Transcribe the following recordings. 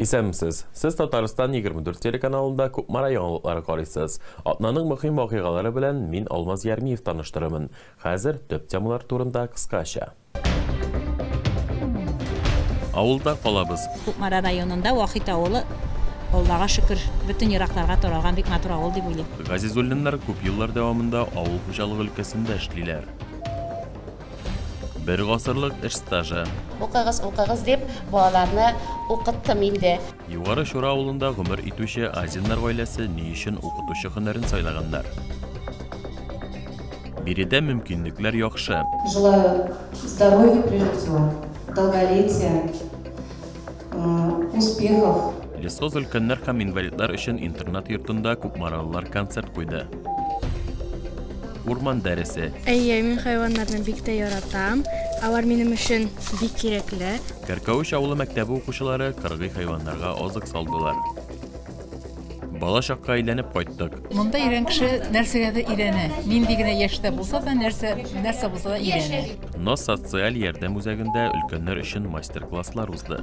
Исәнмесез! Сез Татарстан 24 телеканалында Кукмара яңалыклары карыйсыз. Атнаның мөһим вакыйгалары белән мин Алмаз Ярмиев таныштырырмын. Хәзер төп темалар турында кыскача. Авылда калабыз. Кукмара районында Вахит авылы, Аллага шөкер, бөтен еракларга таралган бик матур авыл дип уйлыйм. Газизуллиннар күп еллар дәвамында авыл хуҗалыгы өлкәсендә эшлиләр. Бер гасырлык эш стажы. Укыгыз, укыгыз дип, балаларны укыттым инде. Югары Чура авылында гомер итүче Азиннар гаиләсе ни өчен укытучы һөнәрен сайлаганнар? Биредә мөмкинлекләр яхшы. Желаю здоровья прежде всего, долголетия. успехов. Лесхоз өлкәннәр һәм инвалидлар өчен интернат-йортында күпмаралылар концерт куйды. Урман дәресе. Әйе, мин хайваннарны бик тә яратам. Алар минем өчен бик кирәкле. Кәркәвеч авылы мәктәбе укучылары кыргый хайваннарга азык салдылар. Бала чакка әйләнеп кайттык. Монда өйрән кеше нәрсәгә дә өйрәнә. Нинди генә яшьтә булса да, нәрсә нәрсә булса да өйрәнә. Но социаль ярдәм үзәгендә өлкәннәр өчен мастер-класслар узды.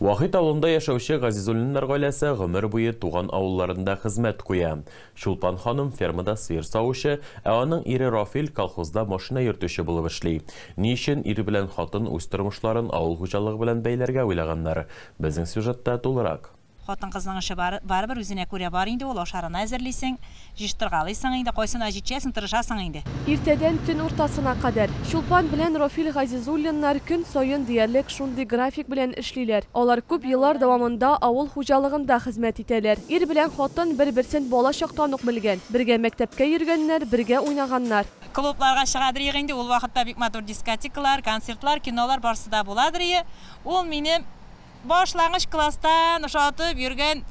Вахит авылында яшәүче Газизуллиннар гаиләсе гомер буе туган авылларында хезмәт куя. Чулпан ханым фермада сыер савучы, ә аның ире Рафил колхозда машина йөртүче булып эшли. Ни өчен ир белән хатын үз тормышларын авыл хуҗалыгы белән бәйләргә уйлаганнар? Безнең сюжетта тулырак. Хатын-кызның эше бар, барыбер үзенә күрә бар инде ул, ашарына әзерлисең, җыштыргалыйсың инде, кайсына җитешәсең, тырышасың инде. Иртәдән төн уртасына кадәр. Чулпан белән Рофил Газизуллиннар көн саен диярлек шундый график белән эшлиләр. Алар күп еллар дәвамында авыл хуҗалыгында хезмәт итәләр. Ир белән хатын бер-берсен бала чактан ук белгән. Бергә мәктәпкә йөргәннәр, бергә уйнаганнар. Клубларга чыгадырыек инде, ул вакытта бик матур дискотекалар, концертлар, кинолар барсы да буладырые. Ул минем башлангыч класстан ошатып йөргән,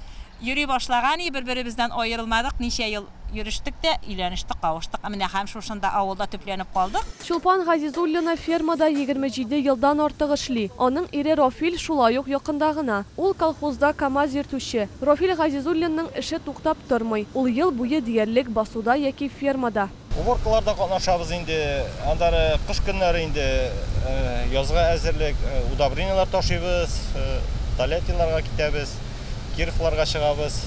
йөри башлаган и, бер-беребездән аерылмадык, ничә ел йөрештек тә, өйләнештек, кавыштык, ә менә һәм шушында, авылда төпләнеп калдык. Чулпан Газизуллина фермада егерме җиде елдан артык эшли. Аның ире Рофил шулай ук якында гына. Ул колхозда КАМАЗ йөртүче. Рофил Газизуллинның эше туктап тормый, ул ел буе диярлек басуда яки фермада. Уборкаларда катнашабыз инде, аннары кыш көннәре инде язга әзерлек, удобрениеләр ташыйбыз, Тольяттиннарга китәбез, Кировларга чыгабыз.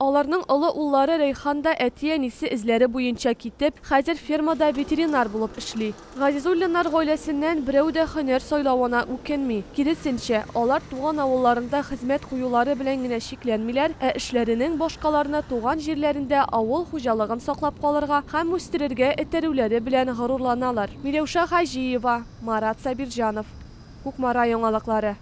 Аларның олы уллары Рәйхан да әти-әнисе эзләре буенча китеп, хәзер фермада ветеринар булып эшли. Газизуллиннар гаиләсеннән берәү дә һөнәр сайлавына үкенми. Киресенчә, алар туган авылларында хезмәт куюлары белән генә чикләнмиләр, ә эшләренең башкаларны туган җирләрендә авыл хуҗалыгын саклап калырга һәм үстерергә этәрүләре белән горурланалар. Миләүшә Хаҗиева, Марат Сабирҗанов. Кукмара яңалыклары.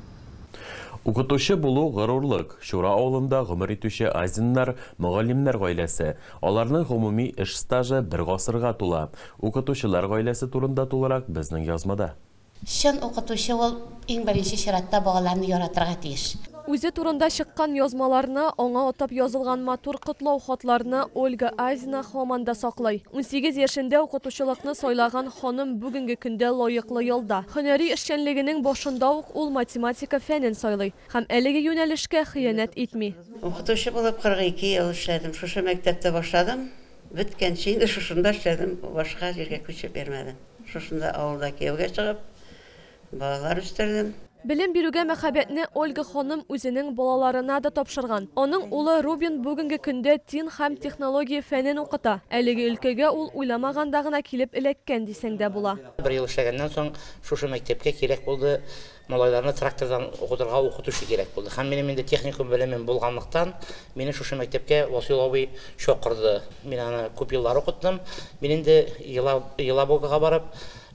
Укытучы булу, горурлык. Чура авылында гомер итүче Азиннар, мөгаллимнәр гаиләсе. Аларның гомуми эш стажы бер гасырга тула. Укытучылар гаиләсе турында тулырак безнең язмада. Чын укытучы ул, иң беренче чиратта, балаларны яратырга тиеш. Үзе турында чыккан язмаларны, аңа атап язылган матур котлау хатларны Ольга Азина һаман да саклый. Унсигез яшендә укытучылыкны сайлаган ханым бүгенге көндә лаеклы ялда. Һөнәри эшчәнлегенең башында ук ул математика фәнен сайлый һәм әлеге юнәлешкә хыянәт итми. Укытучы булып 42 ел эшләдем. Шушы мәктәптә башладым. Беткәнче инде шушында эшләдем, башка җиргә күчеп йөрмәдем. Шушында авылда кияүгә чыгып, балалар үстердем. Белем бирүгә мәхәббәтне Ольга ханым үзенең балаларына да тапшырган. Аның улы Рубин бүгенге көндә тин һәм технология фәнен укыта. Әлеге өлкәгә ул уйламаганда гына килеп эләккән дисәң дә була. Бер ел эшләгәннән соң, шушы мәктәпкә кирәк булды. Малайларны трактордан укытырга укытучы кирәк булды һәм минем инде техникум белемем булганлыктан, мине шушы мәктәпкә Васил абый чакырды. Мин аны күп еллар укыттым. Мин инде Елабугага барып,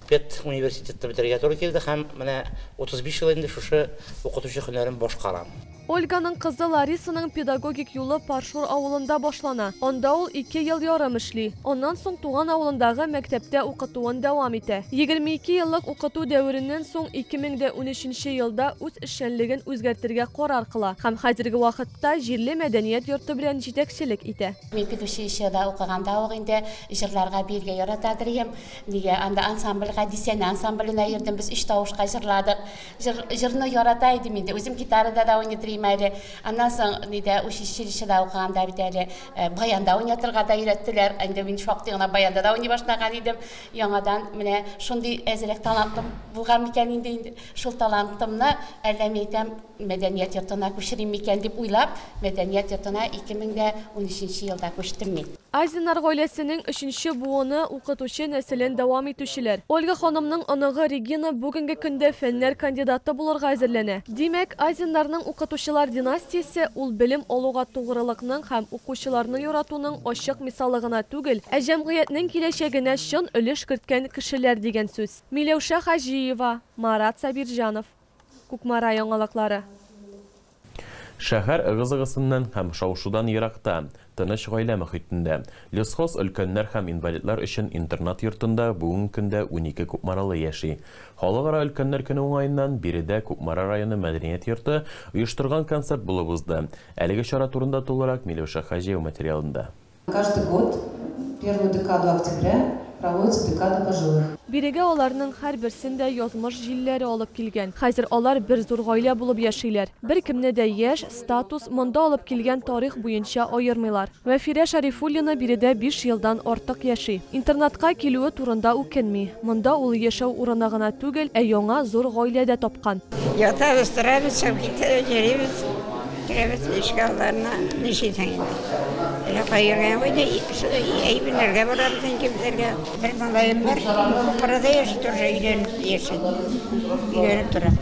педуниверситетны бетерергә туры килде һәм менә 35 ел инде шушы укытучы һөнәрен башкарам. Ольганың кызы Ларисаның педагогик юлы Паршур авылында башлана. Анда ул ике ел ярым эшли. Аннан соң туган авылындагы мәктәптә укытуын дәвам итә. Егерме ике еллык укыту дәвереннән соң ике мең дә унөченче елда үз эшчәнлеген үзгәртергә карар кыла һәм хәзерге вакытта җирле мәдәният йорты белән җитәкчелек итә. Мин педучилищеда укыганда ук инде җырларга биергә яратадыр идем. Нигә анда ансамбльгә, Дистәне ансамбленә йөрдем, без өч тавышка җырладык. Җыр, җырны ярата идем инде. Үзем гитарада да уйнатырыйм әле. Аннан соң нидә училищеда укыганда бит әле э, баянда уйнатырга да өйрәттеләр. Инде мин шактый гына баянда да уйный башлаган идем. Яңадан менә шундый әзрәк талантым булган микән инде инде. Шул талантымны әллә мин әйтәм, мәдәният йортына күчерим микән дип уйлап, мәдәният йортына 2013 елда күчтем мин. Азиннар гаиләсенең өченче буыны, укытучы нәселен дәвам итүчеләр. Ольга ханымның оныгы Регина бүгенге көндә фәннәр кандидаты булырга әзерләнә. Димәк, Азиннарның укытучылар династиясе ул белем алуга тугрылыкның һәм укучыларны яратуның ачык мисалы гына түгел, ә җәмгыятьнең киләчәгенә чын өлеш керткән кешеләр дигән сүз. Миләүшә Хаҗиева, Марат Сабирҗанов. Кукмара яңалыклары. Шәһәр ыгы-зыгысыннан һәм шау-шудан еракта, тыныч гаилә мохитендә, Лесхоз өлкәннәр һәм инвалидлар өчен интернат йортында бүгенге көндә унике кукмаралы яши. Халыкара өлкәннәр көне уңаеннан биредә Кукмара районы мәдәният йорты оештырган концерт булып узды. Әлеге чара турында тулырак Миләүшә Хаҗиева материалында. Каждый год в первую декаду октября проводится декада пожилых. Бирегә аларның һәрберсен дә язмыш җилләре алып килгән. Хәзер алар бер зур гаилә булып яшиләр. Беркемне дә яшь, статус, монда алып килгән тарих буенча аермыйлар. Мәфирә Шәрифуллина биредә биш елдан артык яши. Интернатка килүе турында үкенми. Монда ул яшәү урыны гына түгел, ә яңа зур гаилә дә тапкан. Ятабыз, торабыз, чабгиттә йөрибез. Керәбез ишек алдарына, нишисең инде. Якай йөргән куйды, әйберләргә барабыз инде безләргә. Бер малаем бар, Бохарада яши, тоже өйләнеп яши. Өйләнеп тора.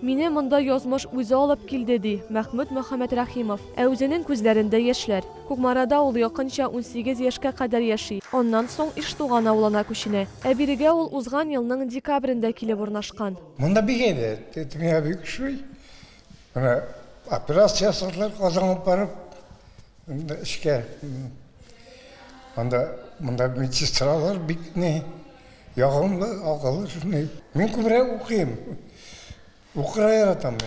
Мине монда язмыш үзе алып килде, ди Мәхмүт Мөхәммәтрәхимов. Ә үзенең күзләрендә яшьләр. Кукмарада ул якынча унсигез яшькә кадәр яши, аннан соң Иштуган авылына күченә. Ә бирегә ул узган елның декабрендә килеп урнашкан. Монда бик әйбәт, төньяк бик шуй. Менә операция ясадылар Казан алып барып, инде эшкә. Анда монда медсестралар бик ни ягымлы, акыллы шуны. Мин күбрәк укыйм. Укырга яратам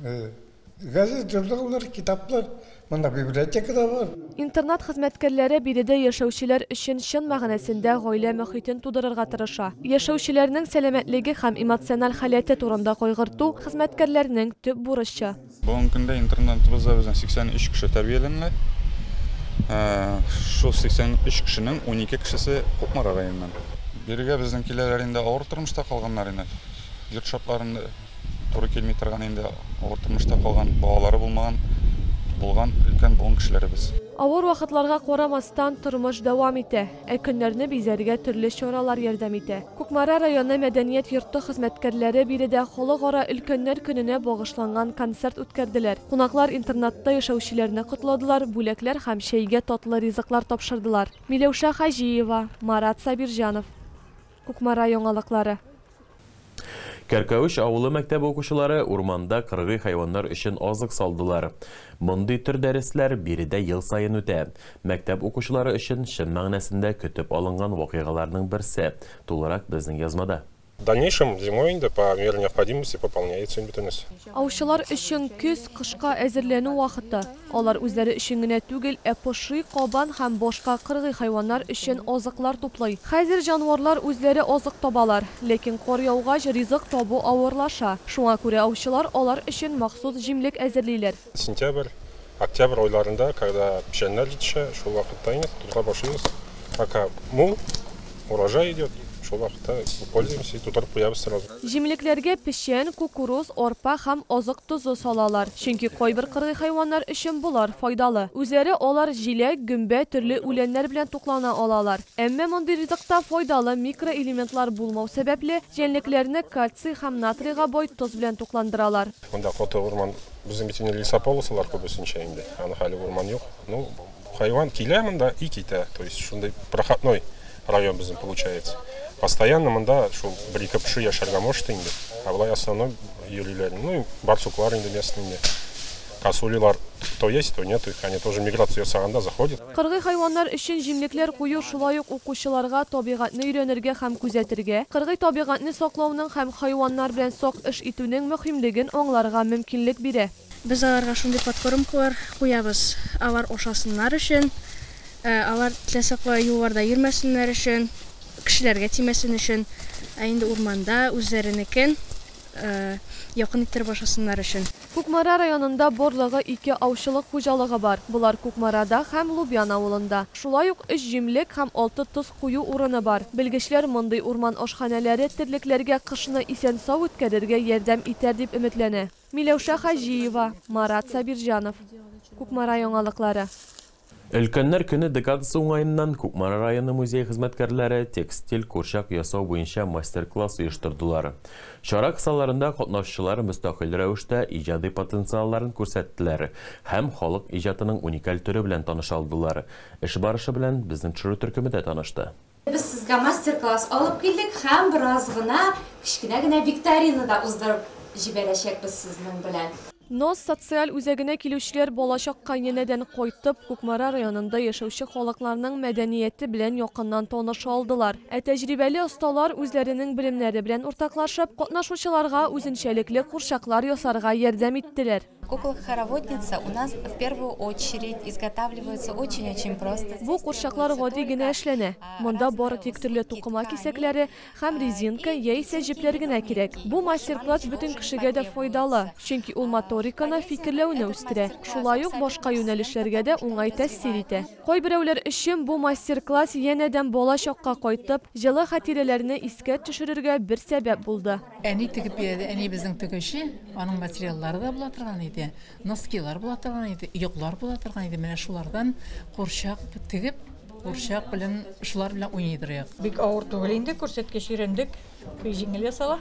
мин. Газет, журналлар, китаплар. Монда библиотека да бар. Интернат хезмәткәрләре биредә яшәүчеләр өчен чын мәгънәсендә гаилә мохитен тудырырга тырыша. Яшәүчеләрнең сәламәтлеге һәм эмоциональ халәте турында кайгырту, хезмәткәрләрнең төп бурычы. Бүгенге көндә интернатыбызда безнең 83 кеше тәрбияләнелә. Шул 83 кешенең унике кешесе Кукмара районыннан. Бирегә безнең киләләр инде авыр тормышта калганнар инде, йорт шартларында. туры килми торган инде авыр тормышта калган, балалары булмаган, булган өлкән буын кешеләребез. Авыр вакытларга карамастан, тормыш дәвам итә. Ә көннәрне бизәргә төрле чаралар ярдәм итә. Кукмара районы мәдәният йорты хезмәткәрләре биредә Халыкара өлкәннәр көненә багышланган концерт үткәрделәр. Кунаклар интернатта яшәүчеләрне котладылар, бүләкләр һәм чәйгә татлы ризыклар тапшырдылар. Миләүшә Хаҗиева, Марат Сабирҗанов. Кукмара яңалыклары. Кәркәвеч авылы мәктәбе укучылары урманда кыргый хайваннар өчен азык салдылар. Мондый төр дәресләр биредә ел саен үтә. Мәктәп укучылары өчен чын мәгънәсендә көтеп алынган вакыйгаларның берсе. Тулырак безнең язмада. В дальнейшем зимой инде по мере необходимости пополняется бөтенесе. Аучылар өчен көз, кышка әзерләнү вакыты. Алар үзләре өчен генә түгел, ә поши, кабан һәм башка кыргый хайваннар өчен азыклар туплый. Хәзер җанварлар үзләре азык табалар. Ләкин кар яугач, ризык табу авырлаша. Шуңа күрә аучылар алар өчен махсус җимлек әзерлиләр. Сентябрь, октябрь айларында, когда печәннәр җитешә, шул вакытта инде тотарга башлыйбыз. Пока мул, урожай идет, шул вакытта пользуемся и тутырып куябыз сразу. Җимлекләргә печән, кукуруз, арпа һәм азык тозы салалар, чөнки кайбер кыргый хайваннар өчен болар файдалы. Үзләре алар җиләк, гөмбә, төрле үләннәр белән туклана алалар. Әмма мондый ризыкта файдалы микроэлементлар булмау сәбәпле, җәнлекләрне кальций һәм натрийга бай тоз белән тукландыралар. Монда коты урман, безнең бит инде лесополосалар күбесенчә инде, аның хәле урман юк. Ну, Хайван килә монда и китә. То есть шундый проходной район безнең получается. Постоянно монда шул бер ике пши яшәргә может инде. Ә болай основной йөриләр. Ну, барсуклар инде местный инде. Косулилар то есть, то нет, их они тоже миграция ясаганда заходят. Кыргый хайваннар өчен җимлекләр кую шулай ук укучыларга табигатьне өйрәнергә һәм күзәтергә, кыргый табигатьне саклауның һәм хайваннар белән сак эш итүнең мөһимлеген аңларга мөмкинлек бирә. Без аларга шундый подкормкалар куябыз, алар ашасыннар өчен, алар теләсә кая юлларда йөрмәсеннәр өчен, кешеләргә тимәсен өчен, ә инде урманда үзләренекен якын иттереп ашасыннар өчен. Кукмара районында барлыгы ике аучылык хуҗалыгы бар, болар Кукмарада һәм Лубян авылында. Шулай ук өч җимлек һәм алты тоз кую урыны бар. Белгечләр мондый урман ашханәләре терлекләргә кышны исән-сау үткәрергә ярдәм итәр дип өметләнә. Миләүшә Хаҗиева, Марат Сабирҗанов. Кукмара яңалыклары. Өлкәннәр көне декадасы уңаеннан Кукмара районы музее хезмәткәрләре текстиль курчак ясау буенча мастер-класс оештырдылар. Чара кысаларында катнашучылар мөстәкыйль рәвештә иҗади потенциалларын күрсәттеләр һәм халык иҗатының уникаль төре белән таныша алдылар. Эш барышы белән безнең төшерү төркеме дә танышты. Без сезгә мастер-класс алып килдек һәм бераз гына кечкенә генә викторина да уздырып җибәрәчәкбез сезнең белән. Нос социаль үзәгенә килүчеләр балачак кайнәнәдән кайтып, Кукмара районында яшәүче халыкларның мәдәнияте белән якыннан таныша алдылар. Ә тәҗрибәле осталар үзләренең белемнәре белән уртаклашып, катнашучыларга үзенчәлекле курчаклар ясарга ярдәм иттеләр. Кукла хороводница у нас в первую очередь изготавливаются очень очень просто. Бу курчаклар гади генә эшләнә. Монда бары тик төрле тукыма кисәкләре һәм резинка яисә җепләр генә кирәк. Бу мастер-класс бөтен кешегә дә файдалы, чөнки ул моториканы, фикерләүне үстерә, шулай ук башка юнәлешләргә дә уңай тәэсир итә. Кайберәүләр өчен бу мастер-класс янәдән бала чакка кайтып, җылы хатирәләрне искә төшерергә бер сәбәп булды. Әни тегеп бирде, әниебезнең тегүче, аның материаллары да була торган иде, носкилар була торган иде, йоклар була торган иде, менә шулардан курчак тегеп, курчак белән, шулар белән уйный торыйк. Бик авыр түгел инде, күрсәткеч өйрәндек, бик җиңел ясала.